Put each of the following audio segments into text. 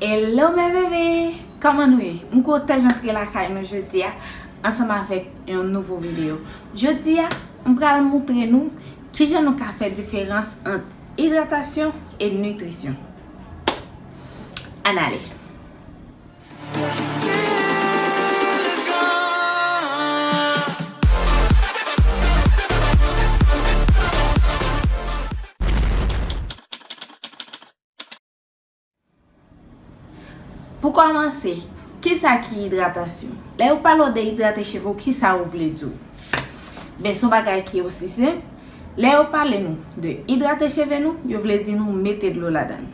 Hello mes bébés! Kòman nou ye? M kontan rantre lakay nou jodi a ansanm avèk yon nouvo videyo. Jodi a, m pral moutre nou kijan nou ka fè diferans ant idratasyon e nitrisyon. Ann ale! Pou kòmanse, kisa ki idratasyon? Lè yo pale w de idrate cheve w kisa yo vle di w? Ben son bagay ki osi senp, lè yo pale nou de idrate cheve nou, yo vle di nou mete dlo ladann.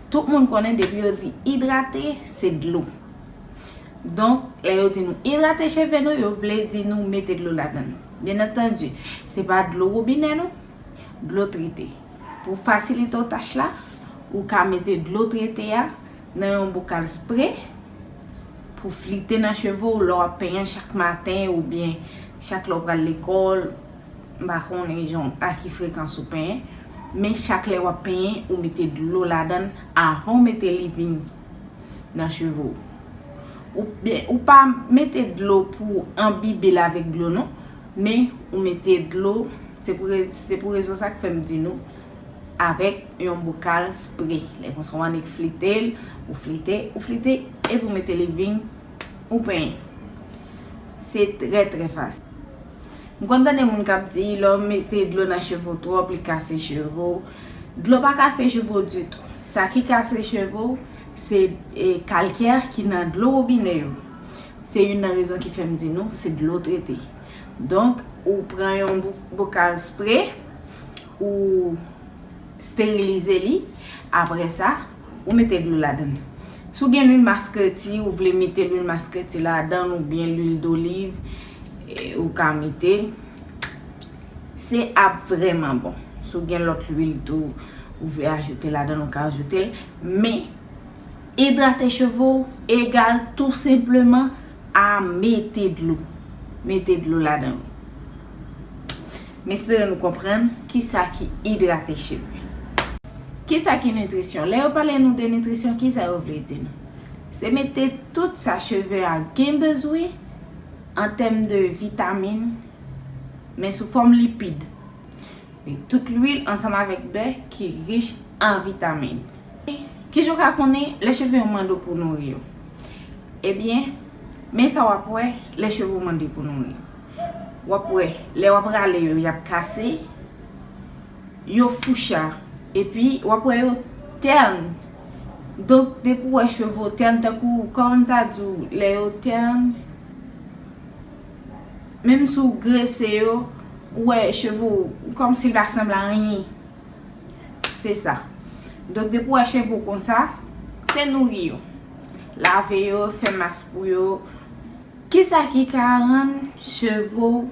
Tout moun konnen depi yo di idrate se dlo. Donk, lè yo di nou idrate cheve nou, yo vle di nou mete dlo ladann. Byenantandi, se pa dlo wobinè non, dlo trete. Pou fasilite w tach la, ou ka mete dlo trete a nan yon bokal spre pou flite nan cheve w lè w ap penyen chak maten oubyen chak lè w pral lekòl, m pa konnen jan a ki frekans ou penyen, men chak lè w ap penyen ou mete dlo ladan l avan w mete leave-in nan cheve w. Ou pa mete dlo pou anbibe l avèk dlo non. Men ou mete dlo, se pou rezon sa k fè m di nou avèk yon bokal spre. Lè konsa w annik flite l, ou flite, ou flite epi ou mete leevin, ou penyen. Se trè trè fasil. M konn tande moun k ap di lè w mete dlo nan cheve w twòp li kase cheve w. Dlo pa kase cheve w ditou. Sa ki kase cheve w se kalkè ki nan dlo wobinè yo. Se youn nan rezon ki fè m di nou se dlo trete. Donk, ou pran yon bokal spre, ou sterilize li, apre sa, ou mete dlo ladan l. Si w gen lwil maskreti, ou vle mete lwil maskreti ladan l oubyen lwil doliv, ou ka mete. Se ap vrèman bon. Si w gen lòt lwil tou ou vle ajoute ladan l, ou ka ajoute l. Men. Idrate cheve w egal tou senpleman a mete dlo. Mete dlo ladan l. M espere nou konprann kisa ki idrate cheve. Kisa ki nitrisyon? Lè yo pale nou de nitrisyon, kisa yo vle di nou? Se mete tout sa cheve a gen bezwen an tèm de vitamin men sou fòm lipid. Li tout lwil ansanm avèk bè ki rich an vitamin. Kijan w ka konnen lè cheve yo mande w pou w nouri yo? Ebyen, men sa w ap wè lè cheve w mande pou w nouri. W ap wè lè w ap rale yo y ap kase, yo foucha epi w ap wè yo tèn. Donk depi w wè cheve w tèn tankou kòman m ta di w lè yo tèn. Menm si w grese yo, ou wè cheve w kòm si l pa sanble a anyen. Se sa. Donk depi w wè cheve w konsa, se nouri yo. Lave yo, fè mas pou yo. Ki sa ki ka rann cheve w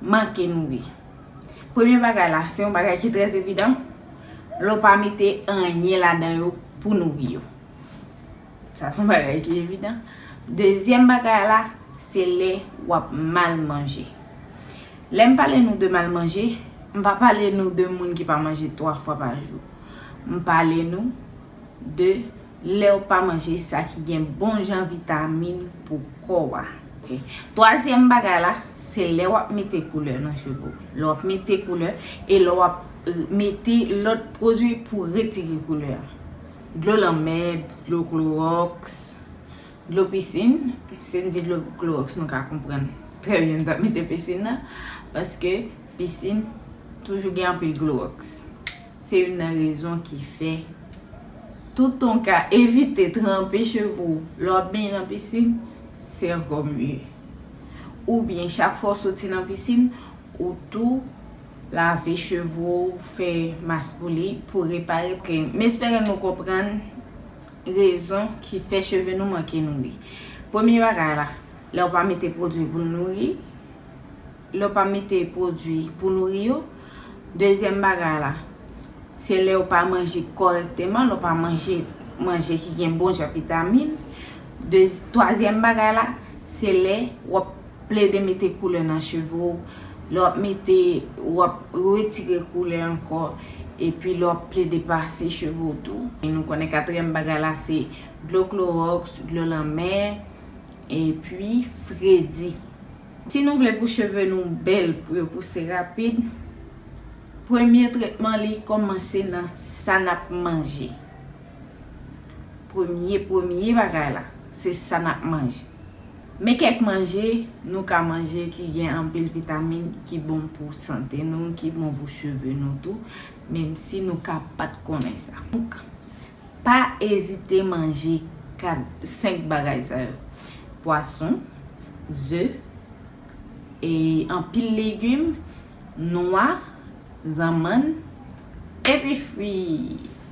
manke nouri? Premye bagay la, se yon bagay ki trè evidan, lè w pa mete anyen ladan yo pou nouri yo. Sa son bagay ki evidan. Dezyèm bagay la, se lè wap mal manje. Lè m pale nou de mal manje, m pa pale nou de moun ki pa manje 3 fwa pa jou. M pale nou de lèw pa manje sa ki gen bon jan vitamin pou kò a. Twazyèm bagay la, se lè wap mete koulè nan cheve w. Lè wap mete koulè e lè wap mete lòt pwodwi pou retire koulè a. Dlo lanmè, dlo klowòks, dlo pisin, si m di dlo klowòks nou ka konprann trè byen m ta mete pisin nan paske pisin toujou gen anpil klowòks. Se youn nan rezon ki fè toutan w ka evite tranpe cheve w lè w ap benyen nan pisin, se ankò mye. Oubyen chak fwa w soti nan pisin. Ou tou lave cheve w, fè mas pou li, pou repare pke. M espere nou konprann rezon ki fè cheve nou manke nouri. Premye bagay la, lè w pa mete pwodwi pou nouri, lè w pa mete pwodwi pou nouri yo. Dezyèm bagay la, se lè w pa manje kòrèkteman, lè w pa manje manje ki gen bon jan vitamin. Twazyèm bagay la, se lè w ap Plede mete koulè nan cheve w, lè w ap mete, w ap retire koulè ankò, epi lè w ap plede pase cheve w tou. E nou konnen katriyèm bagay la se dlo kloròks, dlo lanmè, epi fredi. Si nou vle pou cheve nou bèl, pou yo pouse rapid, premye tretman li kòmanse nan sa n ap manje. Premye premye bagay la, se sa n ap manje. Men kèk manje nou ka manje ki gen anpil vitamin ki bon pou sante nou, ki bon pou cheve nou tou, menm si nou ka pat konnen sa. Donk, pa ezite manje 4, 5 bagay sa yo, pwason, ze, e anpil legim, nwa, zanmann, epi fwi!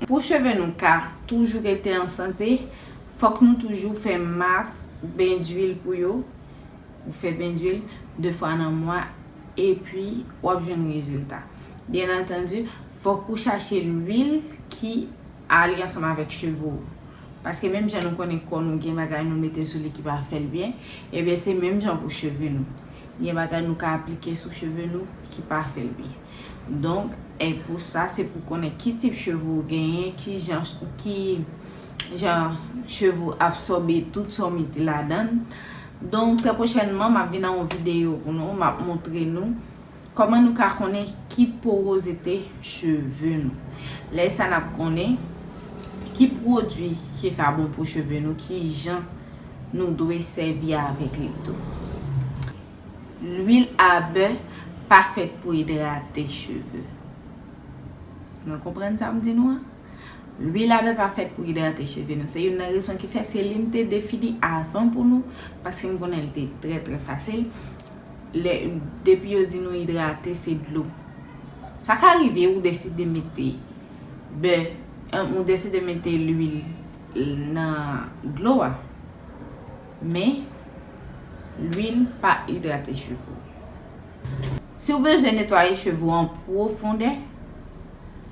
Pou cheve nou ka toujou rete an sante, Fòk nou toujou fè mas ben duil pou yo, ou fè ben duil 2 fwa nan mwa epi wap jwenn rezilta. Byen antandi fòk ou chache luil ki ale ansanm avèk cheve w. Paske menm jan nou konnen kò nou gen bagay nou mete sou li ki pa fèl byen, ebyen se menm jan pou cheve nou. Gen bagay nou ka aplike sou cheve nou ki pa fèl byen. Donk, e pou sa se pou konnen ki tip cheve w genyen, ki jan, ki. jan cheve ou absòbe tout sa ou mete ladann. Donk trè pwochènman map vin an yon videyo pou nou map montre nou kòman nou ka konnen ki porozite cheve nou. Lè sa nap konnen ki pwodui ki ka bon pou cheve nou, ki jan nou dwe sèvi avèk li tou. Lwil a bè pa fèt pou idrate cheve. Nou konprann sa m di nou an? Lwil a bè pa fèt pou idrate cheve nou. Se youn nan rezon ki fè se li m te defini avan pou nou paske m konnen li te trè trè fasil. Lè depi yo di nou idrate se dlo. Sa ka rive ou deside mete bè ou deside mete lwil nan dlo a. Men lwil pa idrate cheve ou. Si ou bezwen netwaye cheve ou an pwofondè.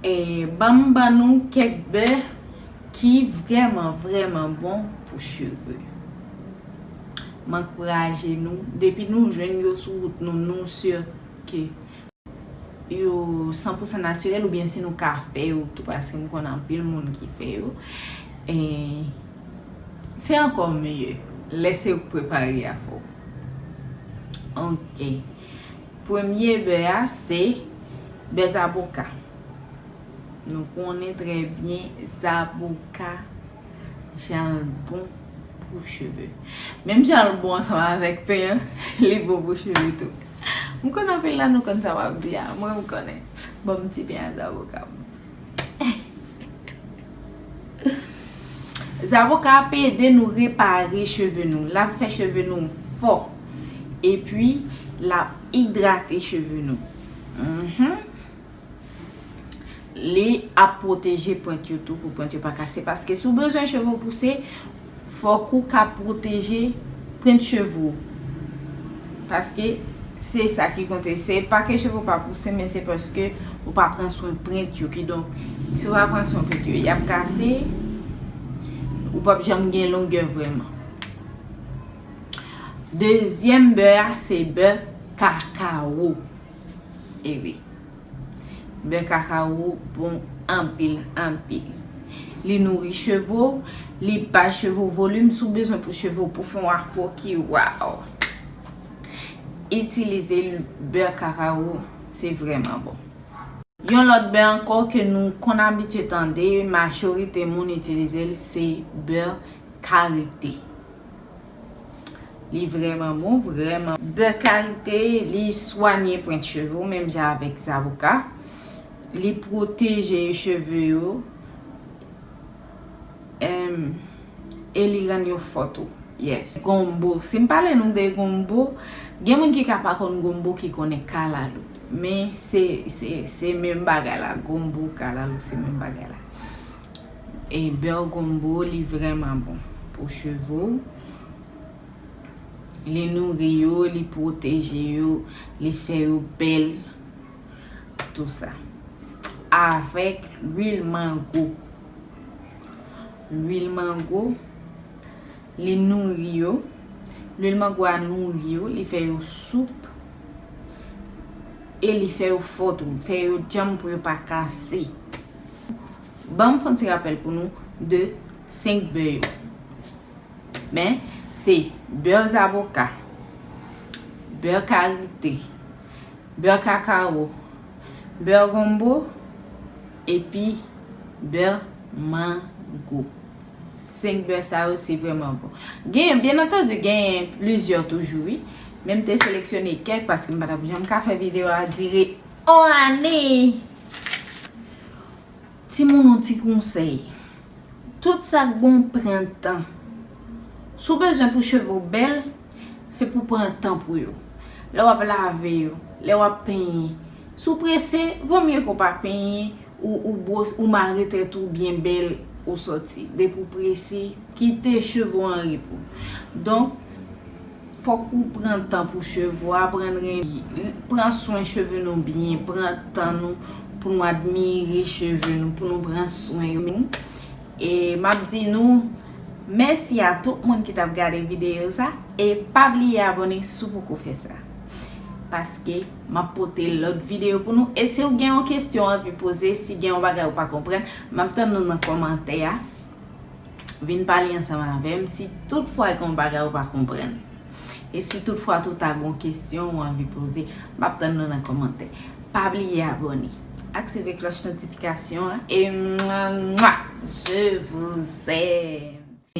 Banm ban nou kèk bè ki vrèman vrèman bon pou cheve. M ankouraje nou depi nou jwenn yo sou wout nou nou sur ke yo san pou san natirèl oubyen si nou ka fè yo tou paske m konnen anpil moun ki fè yo se ankò mye lè se ou k prepare afè w ok. Premye bè a se bè zaboka. Nou konnen trè byen zaboka jan l bon pou cheve. Menm jan l bon ansanm avèk pen an, li bon pou cheve tou. M konnen anpil nan nou konn sa m ap di a. Mwen m konnen. Ban m ti pen a zaboka m. Zavoka ap ede nou repare cheve nou. Lap fè cheve nou fò. Epi lap idrate cheve nou. Li ap pwoteje pwent yo tou pou pwent yo pa kase. Paske sou bezwen cheve ou pouse. Fòk ou ka pwoteje prent cheve ou. Paske se sa ki konte. Se pa ke cheve ou pa pouse men se paske ou pa pran swen prent yo. Kidonk, si ou pa pran swen prent yo, y ap kase. Ou p ap janm gen longè vrèman. Dezyèm bè a, se bè kakawo. E wi. Bè kakawo bon anpil anpil. Li nouri cheve w, li bay cheve w volim si w bezwen pou cheve w pou fè yon afro ki waw. Itilize bè kakawo se vrèman bon. Yon lòt bè ankò ke nou konn abitye tande majorite moun itilize l se bè karite. Li vreman bon, vreman. Bè kalite, li swanye pwent cheve ou menm jan avèk zaboka. Li pwoteje cheve yo e li rann yo fò tou. Yes. Gonbo. Si m pale nou de gonbo, gen moun ki ka pa konn gonbo ki konnen kalalou. Men se menm bagay la. Gonbo, kalalou se menm bagay la. E beurre gombo li vrèman bon pou cheve w. Li nouri yo, li pwoteje yo, li fè yo bèl. Tout sa. Avèk lwil mango. Lwil mango, li nouri yo. Lwil mango a nouri yo, li fè yo soup. E li fè yo fò tou. Fè yo djanm pou yo pa kase. Banm fon ti rapèl pou nou de 5 bè yo men se bè zaboka, bè karite, bè kakawo, bè gonbo epi bè mango. 5 bè sa yo se vreman bon. Genyen, byen antandi genyen plizyè toujou wi. Men m te seleksyone kèk paske m pa tap janm ka fè videyo a dire. Ohh Anne! Timoun on ti konsèy, tout sak bon pran tan. Si w bezwen pou cheve w bèl, se pou w pran tan pou yo. Lè w ap lave yo, lè w ap penyen. Si w prese, vo mye ke w pa penyen, ou bwose, ou mare tèt ou byen bèl, ou sòti. Depi w prese, kite cheve w an repo. Donk. Fok ou pran tan pou cheve ou aprann renmen pran swen cheve nou byen pran tan nou pou nou admire cheve nou pou nou pran swen yo e map di nou mèsi a tout moun ki tap gade video sa e pa bliye abone si w poko fè sa paske map pote lot video pou nou e si w gen yon kestyon anvi poze si gen yon bagay ou pa konprann map tann nou nan komantè a. Vin pale ansanm avè m si tout fwa gen yon bagay ou pa konprann. E si tout fwa tou ta gen yon kesyon ou anvi poze. M ap tann nou nan kòmantè. Pa bliye abòne. Aktive klòch notifikasyon an. E mwah mwah! Je vous aime!